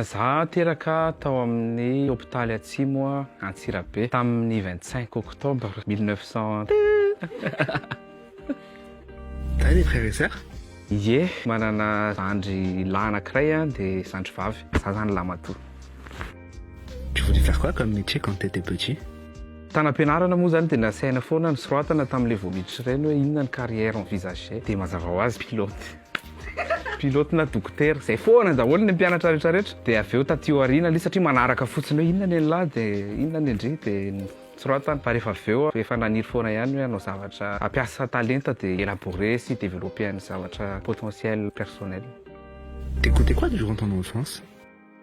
Za teraka tao amin'ny hopitaly Atsimo Antsirabe tamin'ny vingt cinq octobre mille neuf cent T'as des frères et sœurs? Ie, manana zandry lahy anankiray dia zandry vavy. Za zany lahimatoa. Tu voulais faire quoi comme métier quand t'étais petit? Tany am-pianarana moa zany dia nasaina foana nisoratana tamin'ilay vao miditra ireny hoe inona ny carrière envisagée dia mazava ho azy pilote. Pilote na dokotera, zay foana daholo ny mpianatra rehetra rehetra, de avy eo taty aoriana le izy satria manaraka fotsiny hoe inona ny an'lah de inona ny andry de soratany fa rehefa avy eo efa naniry foana ihany hoe hanao zavatra hampiasa talenta de elaborer sy developper ny zavatra potentiel personnel. T'écoutais quoi durant ton enfance?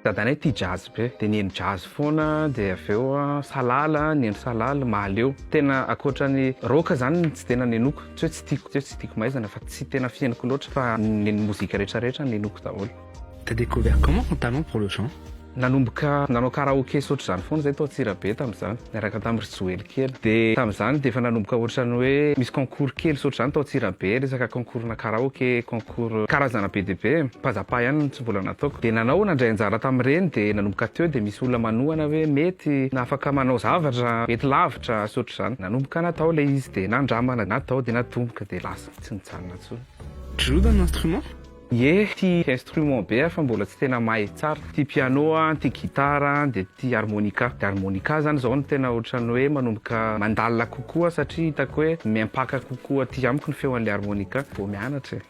Dadanay tia jazz be dia nihaino jazz foana dia avy eo salala nihaino salala mahaleo tena ankoatra ny rock zany no tsy dia nanenoko tsy hoe tsy tiako tsy hoe tsy tiako maizina fa tsy tena fihainoko loatra fa ny mozika rehetra rehetra nenoko daholo. T'as découvert comment ton talent pour le chant? Nanomboka nanao karaoke sy ohatr'izany foana zahay tao Antsirabe tamin'izany niaraka tamin'i ry Joely kely dia tamin'izany dia efa nanomboka ohatran'ny hoe misy concours kely sy ohatr'izany tao Antsirabe resaka concours-na karaoke concours karazana be dia be e, paza-pa ihany no. mbola nataoko dia nanao nandray anjara tamin'ireny dia nanomboka teo dia misy olona manohana hoe mety na afaka manao zavatra mety lavitra sy ohatr'izany nanomboka natao ilay izy dia nandramana natao dia natomboka dia lasa tsy nijanona intsony. Tu joues d'un instrument? Ie, tia instrument be aho fa mbola tsy tena mahay tsara, tia piano aho, tia guitare aho dia tia harmonica, dia harmonica zany zao no tena ohatran'ny hoe manomboka mandalina kokoa satria hitako hoe miampaka kokoa aty amiko ny feon'ilay harmonica vao mianatra e.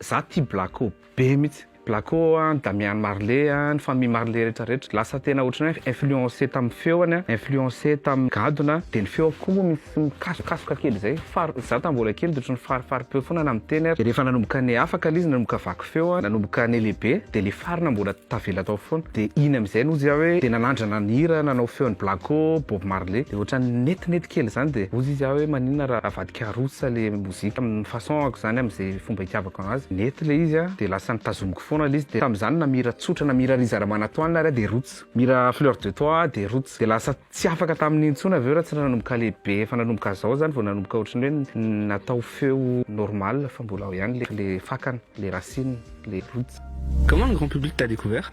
Za tia Blacko be mitsy. Blacko an, Damian Marley an, ny famille Marley rehetra rehetra. Lasa tena otrany hoe influencer tamin'ny feony an, influencer tamin'ny gadona an, de ny feoko koa moa misy mikasokasoka kely zay, far za tam mbola kely de otrany farifary peu foana na miteny ary, de rehefa nanomboka ny afaka le izy nanomboka vaky feo an, nanomboka nelehibe de le far na mbola tavela tao foana, de iny amizay no ozy za hoe de nanandrana ny hira nanao feony Blacko, Bob Marley, de otrany netinety kely zany de ozy izy ah hoe maninona raha avadika arosa le mozika. Vita amin'ny façon-ako izany amin'izay fomba itiavako anazy. Nety ilay izy an, dia lasa notazomiko foana ilay izy, dia tamin'izany na mira tsotra na mira Riza Ramanatoanina ary aho dia roots, mira Fleur de toi aho dia roots, dia lasa tsy afaka tamin'iny intsony avy eo raha tsy nanomboka lehibe efa nanomboka zao izany vao nanomboka ohatry ny hoe natao feo normal fa mbola ao ihany ilay fakany, ilay racine, ilay roots. Comment le grand public t'a découvert?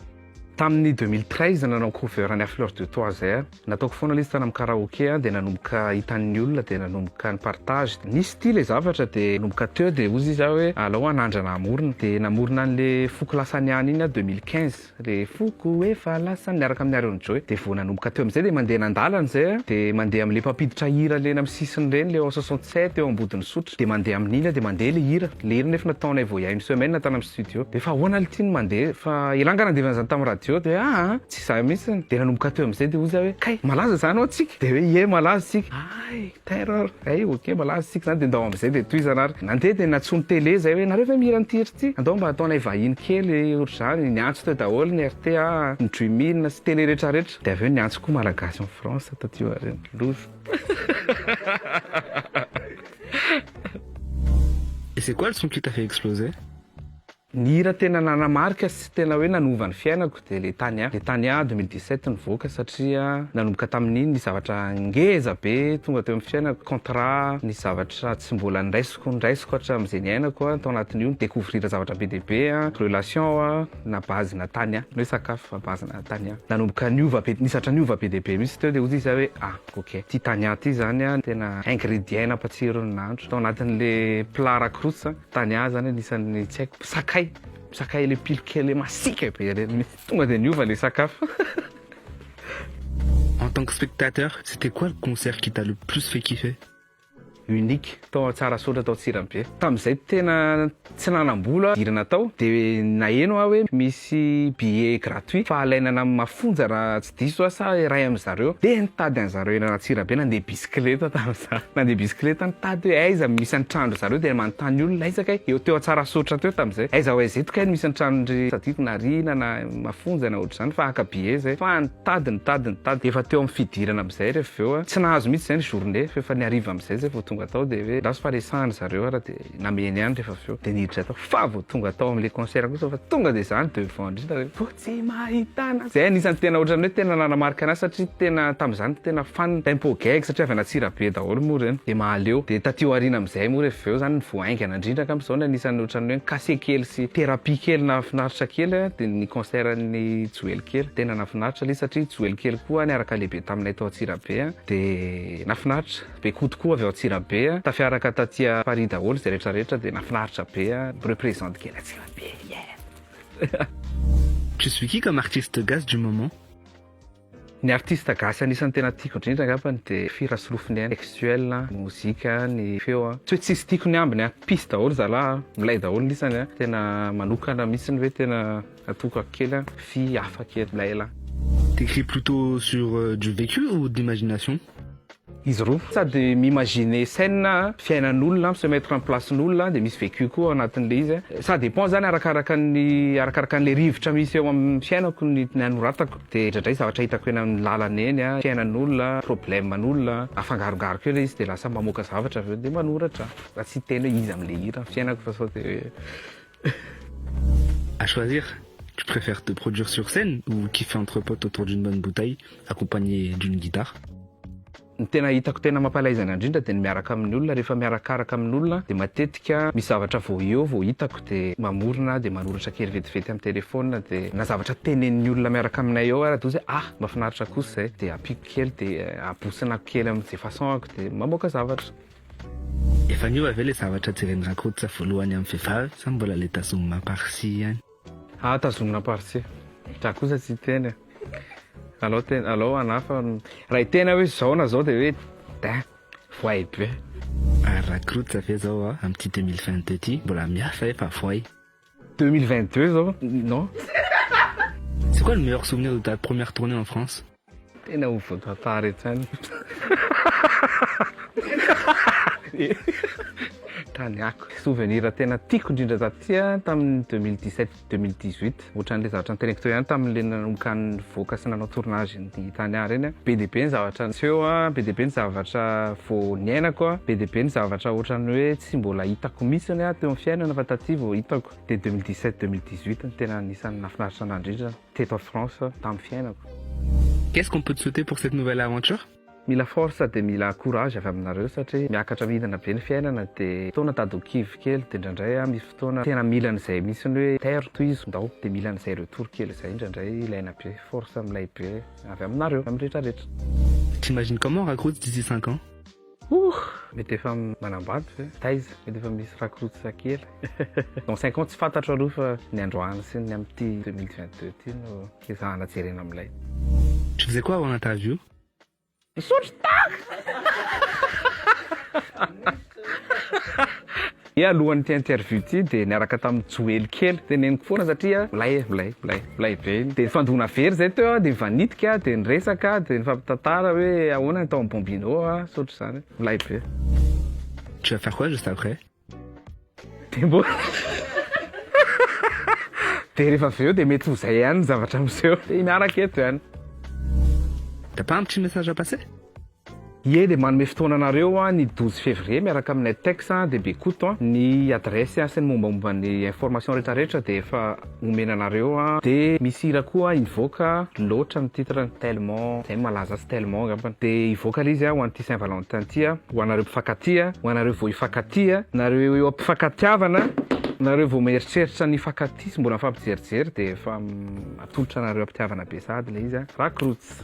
Tamin'ny deux mille treize nanao cover an'i à fleur de toi zay nataoko foana ilay izy tany amin'ny karaoke dia nanomboka hitan'ny olona dia nanomboka ny partage nisy tia ilay zavatra dia nanomboka teo dia hozy izy aho hoe alao hanandrana hamorona dia namorona an'ilay foko lasany ihany iny aho deux mille quinze ilay foko efa lasany miaraka amin'ny Areo Nijoy dia vao nanomboka teo amin'izay dia mandeha nandalana izay dia mandeha amin'ilay mpampiditra hira ilay eny amin'ny sisiny ireny ilay ao soixante sept eo Ambodin'Isotry Dia mandeha amin'iny aho dia mandeha ilay hira, ilay hira nefa nataonay vao hiahy ny semaine natao any amin'ny studio, dia efa ahoana ilay tiany mandeha, efa ela angaha nandevana izany tamin'ny radio, dia aa tsy izaho mihintsy, dia nanomboka teo amin'izay dia hoy izaho hoe kay malaza izany ho'a tsika, dia hoe ie malaza isika, aay terror, hay ok malaza isika izany, dia ndao amin'izay dia tohizana ary nandeha dia nantsoin'ny télé izay hoe nareo ve mihira an'ity hira ity, andao mba ataonay vahiny kely ohatr'izany, niantso teo daholo ny rta, ny dream in sy télé rehetra rehetra, dia avy eo niantso koa Malagasy en France taty aoriana, loza. Et c'est quoi le son qui t'a fait exploser? Ny hira tena nanamarika sy tena hoe nanova ny fiainako dia le Tania, le Tania deux mille dix sept nivoaka satria nanomboka tamin'iny nisy zavatra ngeza be tonga teo amin'ny fiainako, contrat, nisy zavatra tsy mbola niraisiko niraisiko hatramin'izay niainako tao anatin'io, ni-decouvrir zavatra be dia be, relations. nabazina tany an, ny hoe sakafo fa bazina tany an, nanomboka niova be, nisatra niova be dia be mihitsy teo dia hoy izy aho hoe ah ok, ity tany an ity izany an tena ingrédients nampatsiro ny nahandro, tao anatin'le plat rakorots tany an izany anisan'ny tsy haiko, sakay, sakay le piloquet le masiaka be ireny, tonga dia niova le sakafo. En tant que spectateur, c'était quoi le concert qui t'a le plus fait kiffer? Unique tao Tsarasaotra tao Antsirabe. Tamin'izay tena tsy nanam-bola hidirana tao dia naheno aho hoe misy billet gratuit fa alaina any amin'ny Mafonja raha tsy diso aho sa iray amin'izy zareo dia nitady an'izy zareo eny Antsirabe nandeha bisikileta tamin'izaho. Nandeha bisikileta nitady hoe aiza no misy an'ny tranondry zareo dia manontany olona aiza kay eo teo Antsarasaotra teo tamin'izay aiza ho aiza eto kay no misy ny tranondry tadidio na Riana na Mafonja na ohatr'izany fa haka billet zay fa Tady nitady nitady, efa teo amin'ny fidirana amin'izay ry avy eo a, tsy nahazo mihitsy izay ny journée fa efa ny hariva amin'izay zay vao tonga tao dia hoe lasa fa resahan-dry zareo ary dia namehiny ihany rehefa avy eo dia niditra tao fa vao tonga tao amin'ilay concert kosa fa tonga dia zany devant indrindra hoe vao tsy mahita an'azy, izay anisany tena ohatran'ny hoe tena nanamarika an'ahy satria tena tamin'izany tena fan Tempo Gag satria avy any Antsirabe daholo moa ireny dia mahaleo, dia taty aoriana amin'izay moa ry avy eo zany ny vao haingana indrindra angamba izao ny anisany ohatran'ny hoe nikase kely sy thérapie kely nahafinaritra kely dia ny concert an'i Joely. kely tena nafinaritra lay satria joely kely koa any araka lehibe taminay tao Antsirabe a de nafinaritra be koto koa avy ao Antsirabe a tafiaraka taty a Paris daholo zay rehetra rehetra de nafinaritra be a represente kely Antsirabe yeah Tu suis qui comme artiste gasy du moment? Ny artiste gasy anisany tena tiako indrindra angambany de Fy Rasolofoniaina, textuel a, ny mozika a, ny feo a, tsy hoe tsisy tiako ny ambiny a, piste daholo zalah a, milay daholo ny isany a, tena manokana mihitsiny hoe tena. Atokako kely an, fy hafa kely ilay ela an. T'écris plutôt sur du vécu ou de l'imagination? Izy roa. Sady mi-imaginer scène fiainan'olona mi-se mettre en place n'olona dia misy vécu koa ao anatin'ilay izy. Ça dépend izany arakaraka ny arakaraka an'ilay rivotra misy eo amin'ny fiainako ny ny anoratako. Dia indraindray zavatra hitako eny amin'ny lalana eny, fiainan'olona, problèmen'olona, afangarongaroko eo ilay izy dia lasa mamoaka zavatra avy eo dia manoratra. Raha tsy hiteny hoe iza amin'ilay hira, fiainako fa sao dia hoe. À choisir, tu préfères te produire sur scène ou kiffer entre potes autour d'une bonne bouteille accompagnée d'une guitare? Ny tena hitako tena mampalaizana indrindra dia ny miaraka amin'ny olona, rehefa miarakaraka amin'olona dia matetika misy zavatra vao eo vao hitako dia mamorona dia manoratra kely vetivety amin'ny téléphone dia na zavatra tenenin'ny olona miaraka aminay eo ara dia ozy hoe ah! mafinaritra kosa izay dia ampiako kely dia abosonako kely amin'ny façon-ako dia mamoaka zavatra. Efa niova ve le zavatra jeren'i Rakotoza voalohany amin'ny vehivavy sa mbola le tazomina par ci ihany? Haa tazomina par ci. Za kosa tsy hiteny e. Alao tena alao anah fa raha hiteny aho hoe zao na zao de hoe dain voay be. Ary Rakotoza ve zao amin'ity deux mille vingt deux ty mbola miasa efa voay? Deux mille vingt deux zao non. C'est quoi le meilleur souvenir de ta première tournée en France? Tena ho voatantara etsy any. Taniako. Souvenir tena tiako indrindra taty tamin'ny deux mille dix sept, deux mille dix huit, ohatran'ilay zavatra niteneniko teo ihany tamin'ilay nanomboka nivoaka sy nanao tournage iny. Hitany ahy ireny an. Be dia be ny zavatra niseho an, be dia be ny zavatra vao niainako an, be dia be ny zavatra ohatran'ny hoe tsy mbola hitako mihitsiny aho teo amin'ny fiainana fa taty vao hitako. Dia deux mille dix-sept, deux mille dix-huit no tena anisan'ny nahafinaritra anahy indrindra teto France tamin'ny fiainako. Qu'est-ce qu'on peut te souhaiter pour cette nouvelle aventure? Mila force dia mila courage avy aminareo satria miakatra midina be ny fiainana dia fotoana tady ho kivy kely dia indraindray misy fotoana tena mila an'izay mitsiny hoe tairo tohizo ndao dia mila an'izay retour kely izay indraindray ilaina be force milay be avy aminareo amin'ny rehetra rehetra. T'imagines comment Rakrotsy d'ici cinq ans? Ouh! Mety efa manambady ve? Taiza? Mety efa misy rakrotsy kely. Dans cinq ans tsy fantatro aloha fa ny androany sy ny amin'ity deux mille vingt deux ity no ezahana jerena milay. Tsy voizay koa aho hanatavy io. Misotro tak! Dia alohan'ny ity interview ity dia niaraka tamin'i Joely kely, teneniko foana satria milay e, milay, milay, milay be iny. Dia nifandona very izay teo an, dia nivanitika, dia niresaka, dia nifampitantara hoe ahoana ny tao amin'ny Bambino an, tsy ohatr'izany, milay be. Tu vas faire quoi juste après? Dia mbô Dia rehefa avy eo dia mety ho zay ihany ny zavatra miseho. Dia miaraka eto ihany. Dia mpambotry ny message passé? Ie dia manome fotoana anareo aho ny douze février miaraka amin'ny Atex dia be koto an, ny adresse sy ny mombamomba ny information rehetra rehetra dia efa. omena anareo a. De misy hira koa hivoaka loatra ny titre ny tellement zay malaza azy tellement angambany de hivoaka le izy a ho an'ity saint valentin ty a ho anareo mpifankatia ho anareo vao hifankatia nareo eo ampifankatiavana nareo vao mieritreritra ny hifankatia sy mbola mifampijerijery de efa atolotra anareo ampitiavana be sahady le izy a rakorots